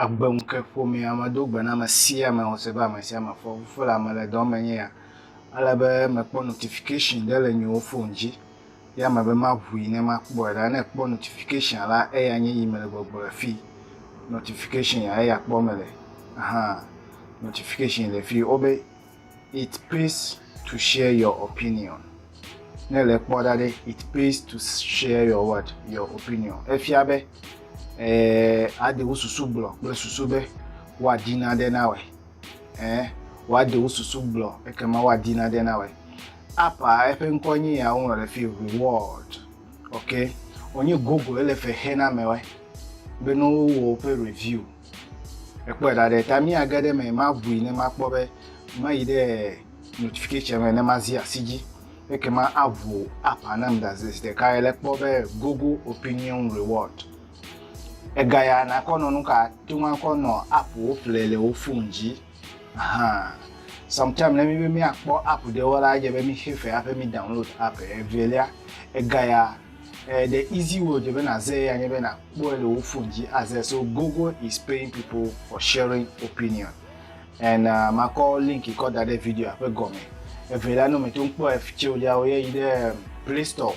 Agbe ŋke ƒomea medo gbe na ame sia ame wose be ame sia ame fɔ fo le ame le dɔ me nye ya. Ele be mekpɔ notification ɖe le nyewo fon dzi. ya me be maʋui ne makpɔe ɖa. Ne ekpɔ notification la eya nye yi mele gbɔgblɔ le fi. Notification ya eya kpɔ mele. Aha notification le fi wo be it pays to share your opinion. Ne le kpɔ ɖa ɖe it pays to share your what your opinion. Efia be eh aɖe wo susu gblɔ kple susu be woaɖi nane na wɔe. eh, woaɖe wo susu gblɔ ekema woadi naɖe na wɔ apa eƒe ŋkɔ nye ya woŋlɔ ɖe fi reward ok wonye google ele fe xe na mewɔe be ne wowɔ woƒe review ekpɔe ɖa ɖe ta míage ɖe me maʋui ne makpɔ be mayi ɖe notification me ne mazi asi dzi ekema aʋu apa nam ɖaze zi ɖeka ele kpɔ be google opinion reward Egaya nakɔ nɔ nuka to ŋakɔ nɔ app wo play le wo phone dzi ahan sometime ne mi be mi akpɔ app ɖe wo la edze be mi xe fe aƒe mi download app evelia egaya eh, the easy way dze be na ze ya nye be na kpɔe le wo phone dzi aze so google is paying people for sharing opinion and uh, makɔ link kɔ da ɖe video aƒe gɔme evelia no me to ŋkpɔ ef tse wo dza wo ye yi ɖe play store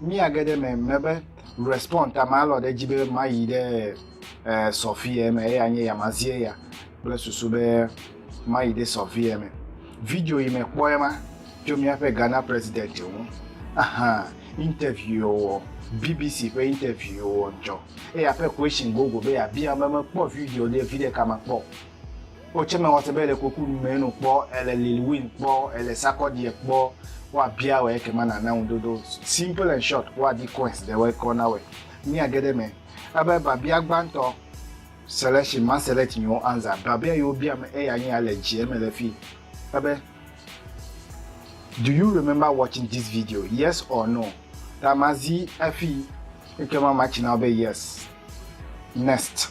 Mía ge ɖe eme me be respond ta ma lɔ ɖe edzi be ma yi ɖe sɔfiɛ me eya nye ya ma zi eya kple susu be ma yi ɖe sɔfiɛ me. Video yi me kpɔe ma tso mía ƒe Ghana president ŋu. Aha interview wɔ BBC ƒe interview wɔ dzɔ. Eya ƒe question gogo be ya bia me me kpɔ video ɖe viɖe ka ma kpɔ. Wo tsɛ me wɔse be ele koku nume eno kpɔ, ele Lil Win kpɔ, ele Sarkodie kpɔ, woa bia wɛ eke ma na na ŋu ɖoɖo. Simple and short, woa di coins ɖe wɛ kɔ na wɛ. Mía ge ɖe me. Ebe babia gbantɔ selection ma select mi wo anza. Babia yi wo bia me eya nye ya le djie me le fi. Ebe do you remember watching this video? Yes or no? Ta ma zi efi eke ma ma tsi na wo be yes. Next.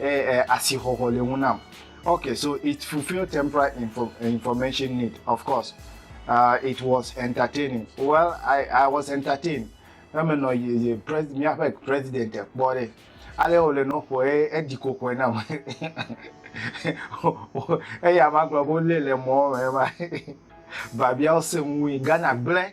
eh, eh, asixɔxɔ le ŋu nam. Okay, so it fulfilled temporary info, information need, of course. Uh, it was entertaining. Well, I, I was entertained. Eme nɔ ye ye pres, míaƒe president kpɔ ɖe. Ale wòle nɔ ƒoe edi kokoe nam. Eya ma gblɔ be wolé le mɔ me ma. Babiawo sẽ ŋui. Ghana gblẽ.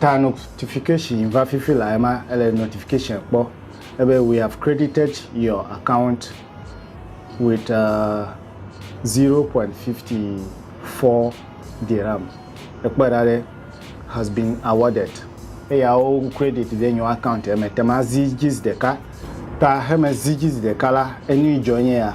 Ta notification va fifi la ema ele notification kpɔ ebe we have credited your account with uh, 0.54 dirham. Ekpɔ ɖa ɖe has been awarded. Eya wo credit ɖe nyo account eme tema zi jiz ɖeka. Ta heme zi jiz ɖeka la enu idzɔ nye ya.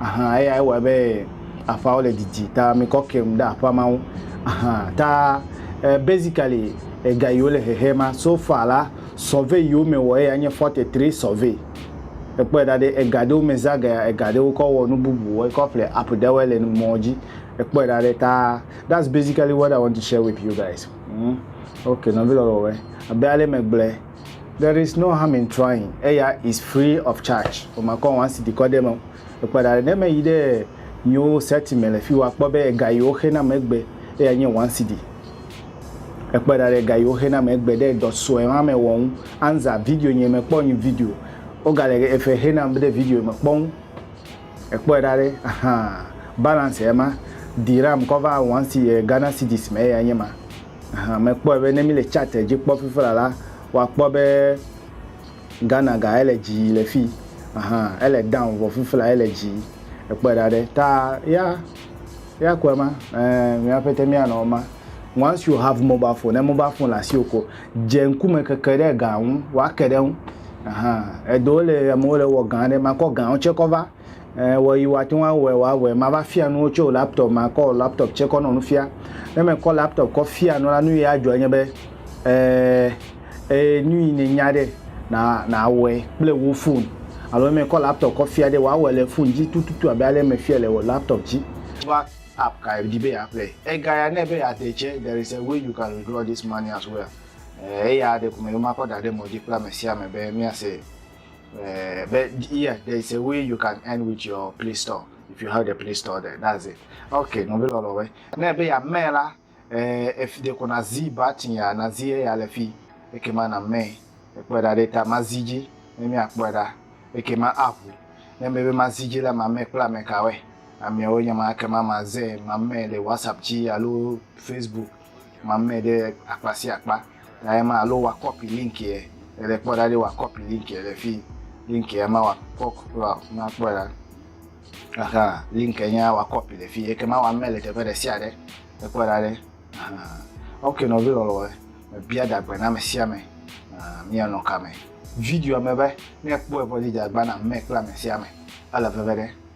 Ahan eyae wɔe be aƒeawo le didi ta mekɔ kem ɖe aƒea ma ŋu. Ahan ta eh, basically ega yiwo le hehe ma so far la survey yiwo me wɔ eya nye 43 survey. Ekpɔe ɖa ɖe ega ɖewo me zã gaya ega ɖewo kɔ wɔ nu bubu wɔ kɔ ƒle app ɖewoe le mɔ dzi. Ekpɔe ɖa ɖe ta that's basically what I want to share with you guys. Mm. Okay, nɔvi lɔlɔwɔe. Abe ale megblɔe. There is no harm in trying eya is free of charge omakɔ wan si dikɔ ɖe me ekpe ɖa ɖe ne me yi ɖe nyiwo seti me le fiwa kpɔ be ega yiwo xe na me gbe eya nye wan si di ekpe ɖa ɖe ga yiwo xe na me gbe ɖe dɔ sue wan me wɔ ŋu anza video nye me kpɔ nyi video oga le efe xe na me ɖe video me kpɔ ŋu ekpe ɖa ɖe ahan balance ema di ram kɔ va wan si Ghana cedis me eya nye ma. Ahan mekpɔe be ne míle chart dzi kpɔ fifila la, woakpɔ be Ghana ga ele dzi le fi. Ahan ele down vɔ fifila ele dzi. Ekpɔe ɖa ɖe. Ta ya ya kɔe ma. Eh mia pete mia nɔ ma. Once you have mobile phone, ne mobile phone le asiwò ko, dze ŋkume keke ɖe ga ŋu, woake ɖe ŋu. Ahan eɖewo le amewo le wɔ gã ɖe makɔ gã ŋu tse kɔ va. Eyi woate ŋu awɔe wòawɔe. Mava fia nuwo tso laptɔp me, makɔ laptɔp tsɛ kɔ nɔ nu fia. Ne mekɔ laptɔp kɔ fia nu la, nu yi adzɔ enye be ee ee nu yi nènya ɖe na nawɔe kple wò fon. Alo ne mekɔ laptɔp kɔ fia ɖe wòawɔe le fon dzi tututu abe ale mefiae le laptɔp dzi. Wova app ka èdi be yeaƒle. Ega ya nɛ be yeade tsɛ, there is a way you can withdraw this money as well. Eya ɖeko meɖo makɔ da ɖe mɔ dzi kple amesiame be míase. Uh, but yeah, there is a way you can earn with your Play Store if you have the Play Store there. That's it. Okay, no velo lowe. Ne be ya me la, eh, if de ko na zi button ya na zi ya le fi, eke ma na me. Ekpɔ da de ta ma zi ji, ne mi akpɔ da, eke ma avu. Ne me be ma zi ji la ma me kpla me ka we. Amewo nya ma eke ma ma ze ma me le WhatsApp ji alo Facebook ma me de akpa si akpa. ya ema alo wa kɔpi link yɛ ele kpɔ ɖa ɖi wa kɔpi link yɛ le fi link yɛ ma wa kɔ wa ma kpɔ ɖa aha link yɛ nya wa kɔpi le fi yɛ kema wa mɛ le teƒe ɖe sia ɖe ekpɔ ɖa ɖe aha ok nɔvi lɔlɔ mebia dagbe na ame sia ame mianɔ kame video me be ne ekpɔe vɔ dzi dagba na mɛ kple ame sia ame ele veve ɖe